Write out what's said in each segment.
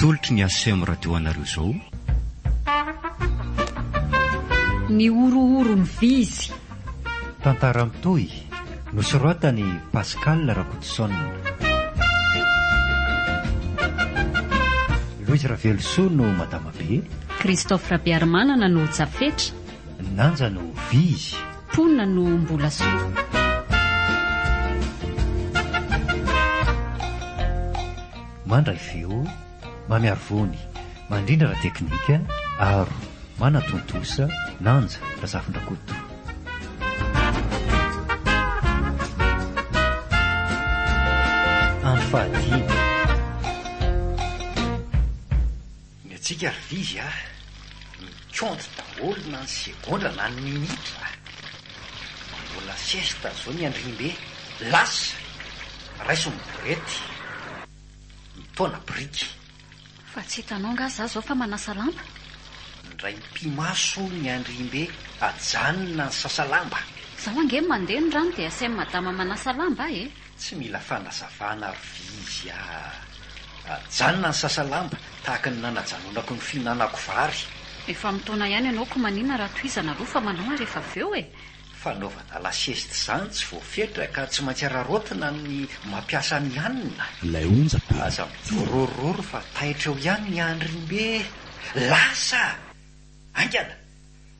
Tolotry ny ACM radio anareo zao. Ny horohoro ny vy izy. Tantara mitohy, nosoratan'i Pascal Rakotoson. Louise Ravelosoa no Madama Be. Christophe Rabearimanana no Jafetra. Nanja no Vy izy. Pona no Mbolasoa. Mandray feo, mamiharo voany, mandrindra ara-teknika, aro, manatontosa, nanja, Razafindrakoto. Andro fahadimy. Ny antsika ry vivy a, mikônty daholo na ny segondra na ny minitra a! Manao la siesta zao ny andriambe, lasa! Raiso ny borety, mitaona biriky. Fa tsy hitanao angaha za zao fa manasa lamba? Indray mipi-maso ny andriambe, ajanona ny sasa-lamba. Zaho ange mandeha ny rano dia asain'i madama manasa lamba ahy e! Tsy mila fanazavana ary ve izy a! Ajanona ny sasa lamba, tahaka ny nanajanonako ny fihinanako vary. Efa mitaona ihany ianao ko manina raha tohizana aloha fa manao ary efa avy eo e! Fanaovana lasiesty izany tsy voafetra ka tsy maintsy araraotina ny mampiasa ny hanina. Ilay onjabe. Aza mivorororo fa taitra eo ihany ny andriny be! Lasa! Haingana!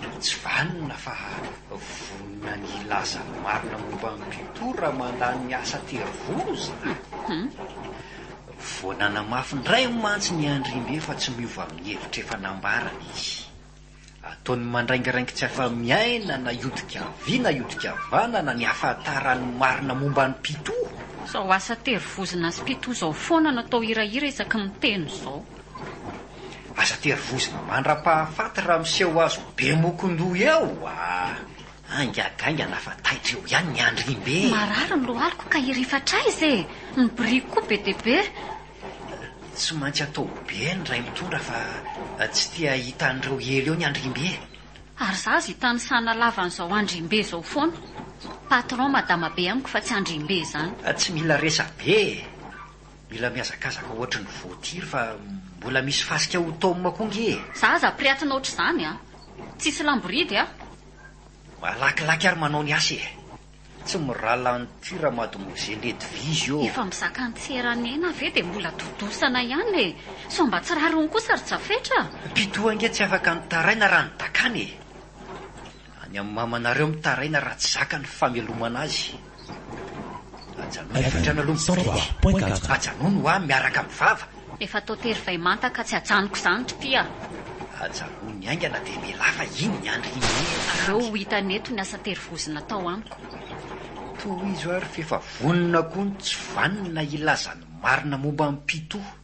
no tsy vanona fa vonona ny hilaza ny marina momba an'i Pythou raha mandany ny asa tery volo izany. Hmm. Vao nanamafy indray mantsy ny Andriambe fa tsy miova amin'ny hevitra efa nambarany izy. Ataony mandraingiraingy tsy afa-miaina na hiodika havia na hiodika havanana ny hafantarany marina momba an'i Pythou. Izao asa tery vozona azy Pythou izao foana no atao hirahira isaky ny miteny izao. Aza tery vozona mandra-pahafaty raha miseho azo be mokon-doha eo aa! Haingagaingana fa taitra eo ihany ny andriambe e! Marary ny lohaliko ka hirifatra aiza e! Ny biriky koa be dia be! Tsy maintsy atao be ny ray mitondra fa tsy te hahita an'ireo ela eo ny andriambe e! Ary za aza hitanisana lava an'izao andriambe izao foana! Patron madama be amiko fa tsy andriambe izany! Tsy mila resa-be e! Mila mihazakazaka ohatry ny voatiry fa mbola misy fasika ho taomina koa nge e! Za aza priatina ohatr'izany an! Tsisy lamboridy aho! Malakilaky ary manao ny asa e! Tsy miralala an'ity ramademoiselle Edwige io! Efa mizaka an-tsera nena ve dia mbola dodosana ihany e! Sao mba tsy rariny kosa ry Jafetra? Pitoa ange tsy afaka nitaraina raha nidakana e! Any amin'ny mamanareo mitaraina raha tsy zaka ny famelomana azy. Ajanony hatrany aloha mipetraka. Ajanony ho'a miaraka amin'ny vava. Efa atao tery vay manta ka tsy ajanoko izany ry ty a! Ajanony haingana dia mialà fa iny ny andry himena azy. Aleo ho hitany eto ny asa tery vozona atao amiko. Tohizo ary f'efa vonona koa ny tsy vanona hilaza ny marina momba an'i Pitoa.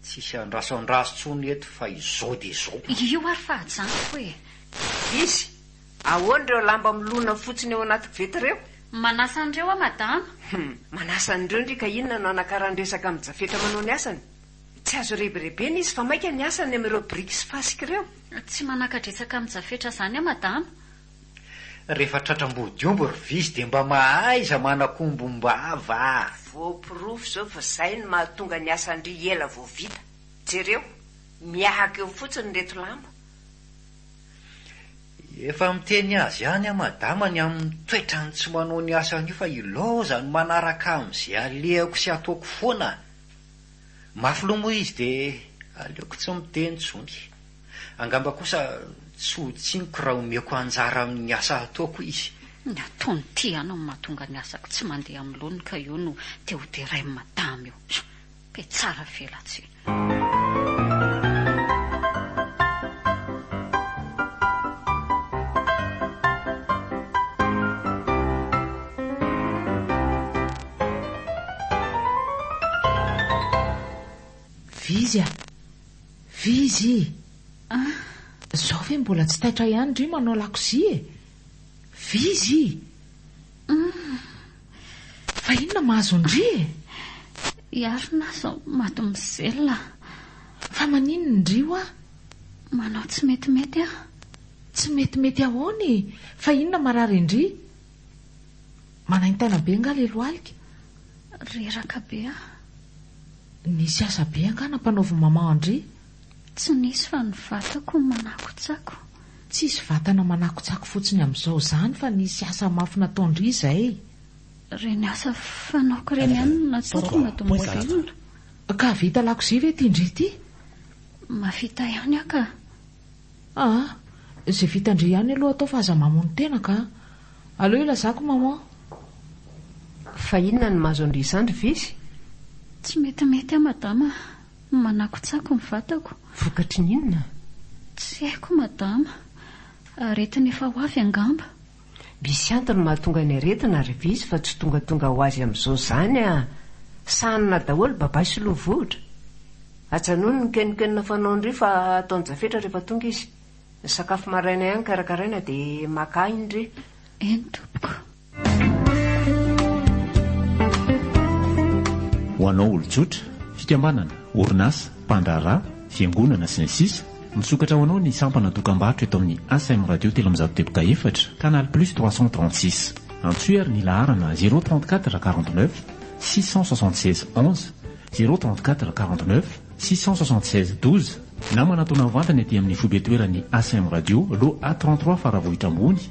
Tsisy andraso andraso tsony eto fa izao dia izao. Io ary fa ajanoko e! Izy, ahoana ireo lamba milona fotsiny eo anaty koveta ireo? Manasa an'ireo aho madama. Hum, manasa an'ireo ndry ka inona no hanakaran-dresaka amin'i Jafetra manao ny asany? Tsy azo rebirebena izy fa maika ny asany amin'ireo biriky sy fasika ireo. Tsy manaka-dresaka amin'i Jafetra izany aho madama. Refa tratra ambody omby ry vizy de mba mahaiza manakombom-bava a! Voaporofo zao fa zay no mahatonga ny asan-dry ela vao vita. Jereo, miahaka eo fotsiny reto lamba. Efa miteny azy ihany aho madama ny amin'ny toetrany tsy manao ny asany io fa ilaoza ny manaraka amin'izay alehako sy ataoko foana. Mafy loha moa izy dia aleoko tsy miteny intsony. Angamba kosa tsy ho tsiniko raha omeko anjara amin'ny asa ataoko izy. Ny ataony ity ano no mahatonga ny asako tsy mandeha amin'ny laoniny ka io no te ho derain'i madama io. Pe tsara velatsihy. Vizya, Vizzy, ah! Zao ve mbola tsy taitra ihany ry manao lakozia e! Vizzy, uhm! Fa inona mahazo an-dry e? I Arona aza mademoiselle. Fa maninona indry hoa? Manao tsy metimety aho. Tsy metimety ahoana e? Fa inona marary an-dry? Manaintaina be angaha le lohalika? Reraka be ah. Nisy asa be angaha nampanaovin'i maman an-dry? Tsy nisy fa ny vatako manakotsako. Tsisy vatana manakotsako fotsiny amin'izao izany fa nisy asa mafy nataon-dry izay. Ireny asa fanaoko ireny ihany no natsahako mba tomobilina. Ka vita lakozia ve ity ndry ity? Mafita ihany ah ka. Aa! Ze vitan-dry ihany aloha atao fa aza mamono tena ka! Aleo ilazako maman! Fa inona no mahazo an-dry izany ry Vesy? Tsy metimety aho madama a! Manakotsako ny vatako. Vokatry ny inona? Tsy haiko madama! Aretina efa ho avy angamba! Misy antony mahatonga ny aretina ry vitsy fa tsy tongatonga ho azy amin'izao izany a! Sahanina daholo babay sy loha vohitra! Ajanony ny kenokenona fanaon-dry fa ataon-jafetra rehefa tonga izy. Ny sakafo maraina ihany karakaraina dia maka ahy indry! Eny tompoko! Ho anao olon-tsotra, fikambanana, orinasa, mpandraharaha, fiangonana, sy ny sisa Misokatra ho anao ny sampana dokambarotra eto amin'ny ACM Radio telo amby zato deboka efatra, canal plus trois cent trente six. Antsoy ary ny laharana zéro trente quatre quarante neuf six cent soixante seize onze, zéro trente quatre quarante neuf six cent soixante seize douze, na manatona mivantana ety amin'ny foibe toeran'ny ACM Radio, loha A trente trois Faravohitra Ambony,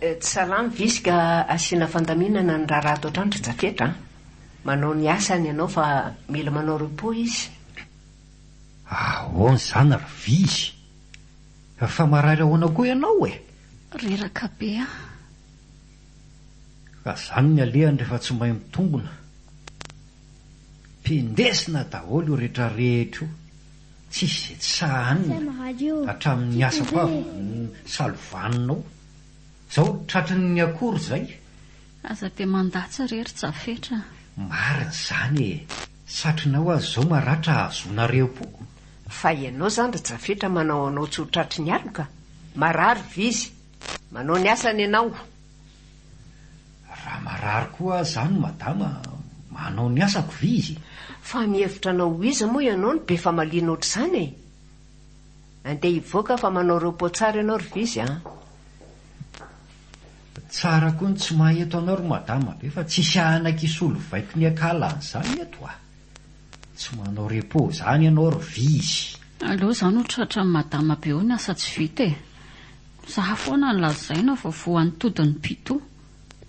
Tsy salama visy ka asiana fandaminana ny raharaha ato an-trano ry Jafetra a! Manao ny asany ianao fa mila manao repos izy. Ahoana izany ry visy? Fa marary ahoana koa ianao e? Reraka be aho. Ka izany ny alehany rehefa tsy mahay mitombona. Mpindesina daholo io rehetra rehetra io, tsisy izay tsy sahanina, hatramin'ny asako avy no salovanina ao, zao tratrin'ny akory zay. Aza dia mandatsa re ry Jafetra a! Marina izany e! Satrinao aza izao maratra hahazoana reapoko. Fa ianao izany ry Jafetra manao anao tsy ho tratry ny aloka? Marary ve izy? Manao ny asany ianao? Raha marary koa aho zany madama, manao ny asako ve izy? Fa mihevitra anao ho iza moa ianao no be famaliana ohatr'izany e? Andeha hivoaka aho fa manao repos tsara ianao ry vizzy an! Tsara koa ny tsy maha eto anao ry madama be fa tsisy ahanak hisolo vaiko ny akala an'izany eto a! Tsy manao repos zany ianao ry vizzy! Aleo za no tratra an'i madama be eo ny asa tsy vita e! Mizaha foana ny lazaina vao voan'ny todin'ny pito.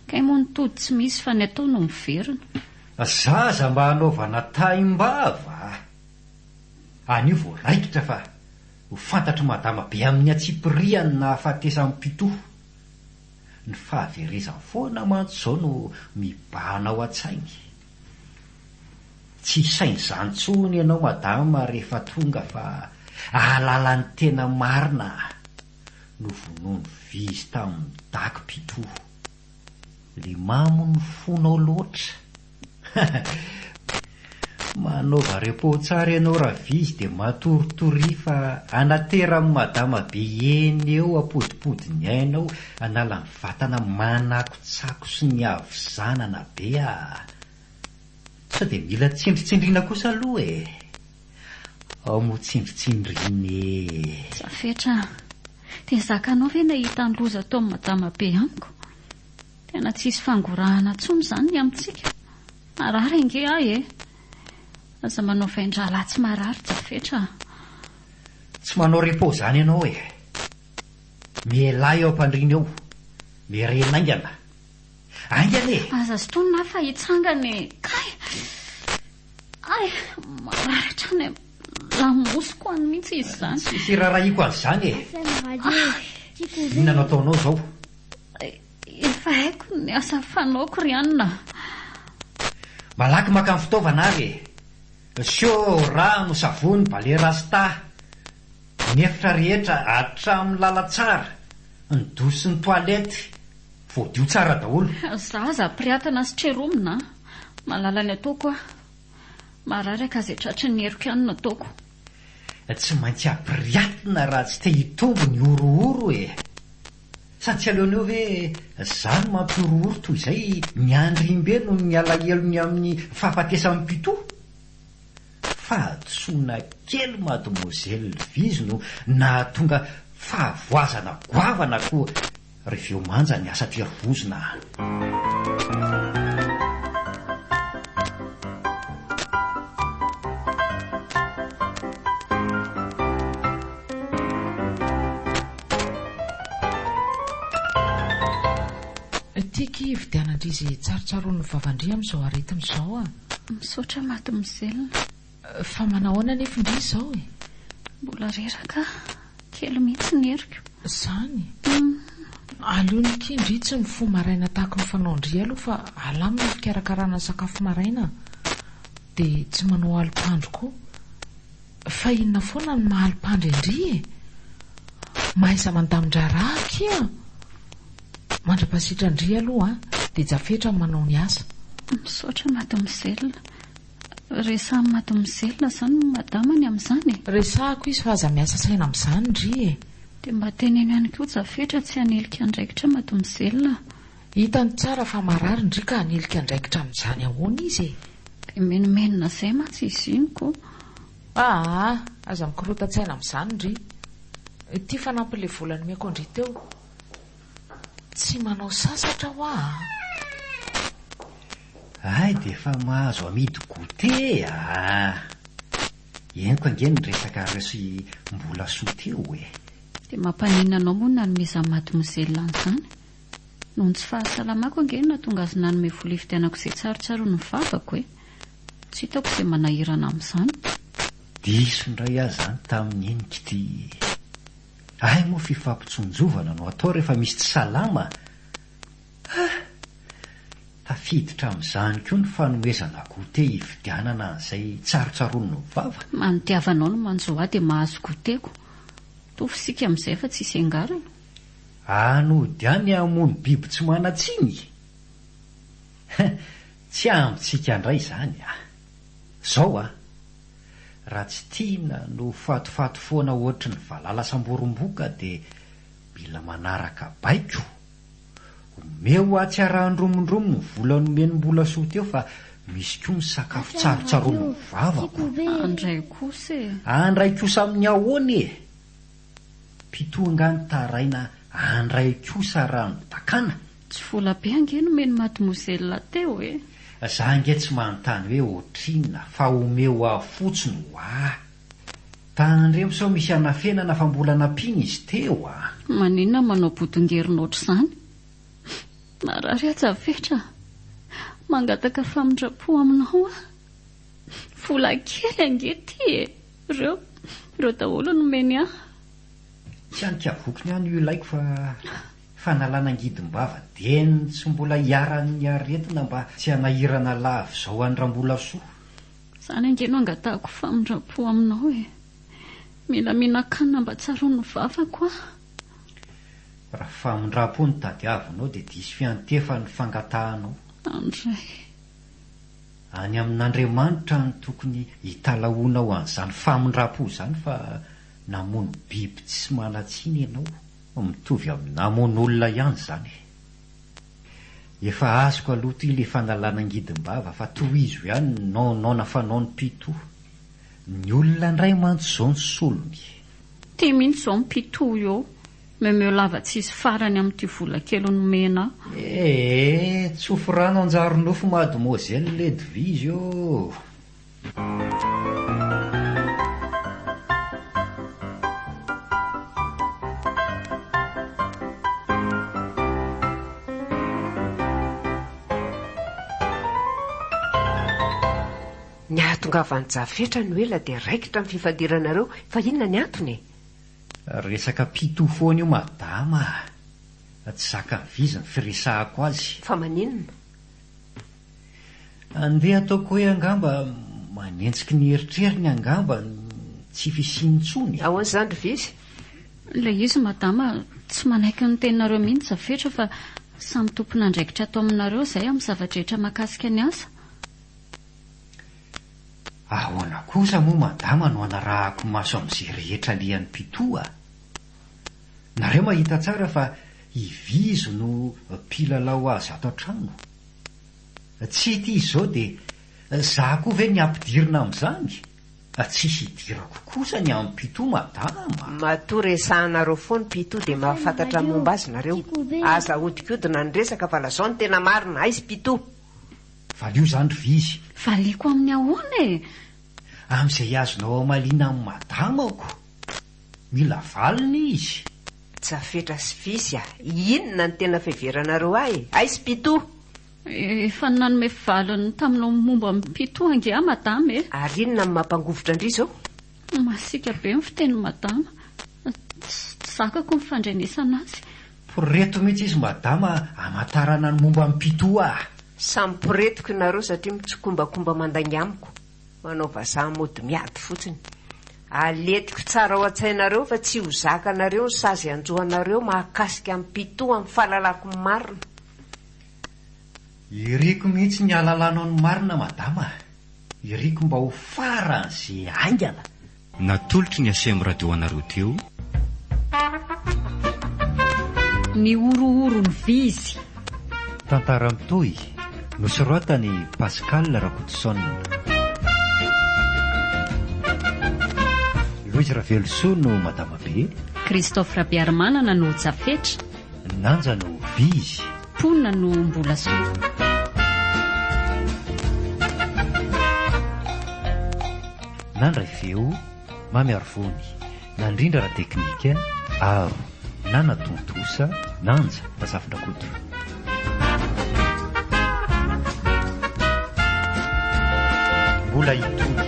Kay moa ny tody tsy misy fa ny atao no miverina. Zaza mba anaovana taim-bava a! Anio vao raikitra fa ho fantatr'i Madama be amin'ny antsipiriany ny nahafatesan'i Pito. Ny fahaverezany foana mantsy izao no mibahana ao an-tsainy. Tsy hisaina izany intsony ianao Madama rehefa tonga fa ahalala ny tena marina Novonoin'i Vizy tamin'ny dago Pitoha Le mamo ny fonao loatra Manaova repos tsara ianao Ravizy dia matoritoria fa anateran'i Madama be eny eo ampodipodin'ny ainao anala ny Vatana manakotsako sy ny havizanana be ah! Sao dia mila tsindritsindriana kosa aloha e! Ao moa tsindritsindriana e! Za fetra ah! Dia zakanao ve nahita ny loza ataon'i Madama be amiko? Tena tsisy fangorahana tsony izany ny amintsika! Marary ange ahy e! Aza manao vain-drahalahy tsy marary ja fetra ah! Tsy manao repos izany ianao e! Mielà eo am-pandriana eo. Mirenina aingana. Aingana e! Aza sintonina aho fa hitsangana e! Kay! Ay! Maratra any am-lamosiko any mihitsy izy izany. Tsy hirarahiako an'izany e! Inona no ataonao izao? Efa haiko ny asa fanaoko ry anona. Malaky maka ny fitaovana ary e! Asio rano, savony, ballet rasta, ny efitra rehetra hatramin'ny lalantsara, ny douche sy ny toilette voadio tsara daholo. Za aza ampirehatana sy treromina an! Malala ny ataoko aho. Marary aho ka izay tratry ny heriko ihany no ataoko. Tsy maintsy ampiriatina raha tsy te hitombo ny horohoro e! Sa tsy aleoneo ve za no mampihorohoro toy izay ny andrimbe noho ny alahelony amin'ny fahafatesan'i Pito? Fahadisoana kely mademoiselle Viz no nahatonga fahavoazana goavana koa reveo manja ny asa tery vozona a! Ity ki hividianandrizy tsarotsarony vavan-dry amin'izao aretiny izao a! Misaotra maty mizelina. Fa manao ahoana nefy ndry izao e? Mbola reraka kely mihitsy ny heriko. Zany e! Aleo ny ki ndry tsy mifoha maraina tahaka ny fanaon-dry aloha fa alamina ny fikarakarana ny sakafo maraina dia tsy manao alim-pandro koa. Fa inona foana no maha alpandry an-dry e! Mahaiza mandamin-draharaha akia! Mandra-pasitran-dry aloha dia jafetra ny manao ny asa. Misaotra mademoiselle. Resahan'i mademoiselle izany ny madamany amin'izany e! Resahako izy fa aza miasa saina amin'izany ry e! Dia mba teneno ihany koa jafetra tsy hanilika andraikitra mademoiselle a! Hitany tsara fa marary ndry ka hanilika andraikitra amin'izany ahoana izy e! Dia menomenona zay mantsy izy iny ko! Aa! Aza mikorotan-tsaina amin'izany ndry! Ity fanampiny le vola nomeko an-dry teo! Tsy manao sasatra hoa a! Hay dia efa mahazo amidy goûté aa! Henoko ange ny resaka resy mbola soa teo e! Dia mampaninona anao moa ny nanomezan'i Mademoiselle an'izany? Noho ny tsy fahasalamako ange no nahatonga azy nanome vola hividianako izay tsarotsaroany ny vavako e! Tsy hitako izay manahirana amin'izany. Diso indray aho izany tamin'iny kty! Hay moa fifampitsonjovana no atao rehefa misy tsy salama a! Tafiditra amin'izany koa ny fanomezana goûter hividianana an'izay tsarotsaroany ny vava. Manodiava anao no manjo ahy dia mahazo goûter-ko. Mitovy isika amin'izay fa tsisy iangarana. Any hody any hamono biby tsy manan-tsiny? Hein, tsy amintsika indray izany a! Zao a! Raha tsy tiana no fatifaty foana ohatry ny valala samborimboka dia mila manaraka baiko. Omeo atsy arahan-dromondromo ny vola nomen'i Mbolasoa teo fa misy koa ny sakafo tsarotsaromin'ny vavako. An-dray kosa e! An-dray kosa amin'ny ahoana e! Mpitoha nga ny taraina andray kosa raha mitakana? Tsy vola be ange nomen'i mademoiselle teo e! Za ange tsy manontany hoe ohatrinona fa omeo aho fotsiny ho'ahy. Tandremo sao misy hanafenana fa mbola nampiana izy teo a! Maninona manao bodongerona ohatr'izany? Marary aza fetra a! Mangataka famindram-po aminao aho. Vola kely ange ity e! Ireo, ireo daholo no nomeny ahy. Tsy any Kiaboko ny any io ilaiko fa fanalana angidim-bava dieny tsy mbola iharan'ny aretina mba tsy hanahirana lava izao an'i Rambolasoa. Izany ange no angatahako famindram-po aminao e! Mila mihinan-kanina mba tsaroan'ny vavako aho. Raha famindram-po no tadiavinao dia diso fiantefan'ny fangatahanao. Andray. Any amin'Andriamanitra any tokony hitalahoanao an'izany famindrampo izany fa namono biby tsy manan-tsiny ianao. Mitovy amin'ny namono olona ihany izany. Efa azoko aloha ity ilay fanalana angidim-bava fa tohizo ihany ny nonoana fanaon'i Pito. Ny olona indray mantsy izao ny solony. Tia mihitsy izao ny Pito io Memeo lava tsisy farany amin'ity vola kely nomena aho. Ee, tsofy rano anjary nofy mademoiselle Ledvige ô! Ny hahatongavan'i Jafetra no ela dia raikitra ny fifadiranareo fa inona ny antony e? Resaka pito foana io madama ah! Tsy zakan'i Viz ny firesahako azy. Fa maninona? Andeha ataoko hoe angamba manenjiky ny eritreriny angamba ny tsy fisiany intsony e! Ahoana izany ry Viz? Ilay izy madama tsy manaiky ny teninareo mihitsy za fetra fa samy tompon'andraikitra ato aminareo izay amin'ny zava-drehetra mahakasika ny asa. Ahoana kosa moa madama no anarahako maso amin'izay rehetra alehan'i Pitoa a! Nareo mahita tsara fa i Vizo no mpilalao azy ato an-trano. Tsy ity izao dia za koa ve ny ampidirina amin'izany? Tsy hidirako kosa ny an'i Pitoa madama a! Matoa resahanareo foana i Pitoa dia mahafantatra ny momba azy nareo. Aza ahodikodina ny resaka fa lazao ny tena marina. Aiza i Pitoa? Valio izany ry vizy. Valiako amin'ny ahoana e? Amin'izay azonao hamaliana an'i madamako. Mila valiny izy. Jafetra sy vizy a! Inona no tena fiheveranareo ahy? Aiz pito! Efa nanome valiny taminao momba an'i pito ange aho madama e! Ary inona no mampangovitra an-dry izao? Masiaka be ny fitenin'i Madama. Tsy zakako ny fandrenesana azy. Poreto mihitsy izy Madama hamantarana ny momba an'i Pitoa ah! Samy poretiko nareo satria mitsikombakomba mandainga amiko, manao vazaha mody miady fotsiny. Aletiko tsara ao an-tsainareo fa tsy ho zakanareo ny sazy hanjo anareo mahakasika an'i Pitoa amin'ny fahalalako ny marina. Iriko mihitsy ny ahalalanao ny marina madama a! Iriko mba ho faran'ze haingana! Natolotry ny Acm Radio anareo teo. Ny horohoron'ny vizy. Tantara mitohy, nosoratan'i Pascal Rakotoson. Louise Ravelosoa no madama be. Christophe Rabearimanana no jafetra. Nanja no vizy. Mponina no mbola soa. Nandray feo, Mamy Arivony. Nandrindra ara-teknika, Aro. Nanatontosa, Nanja Razafindrakoto. Mbola hitohy.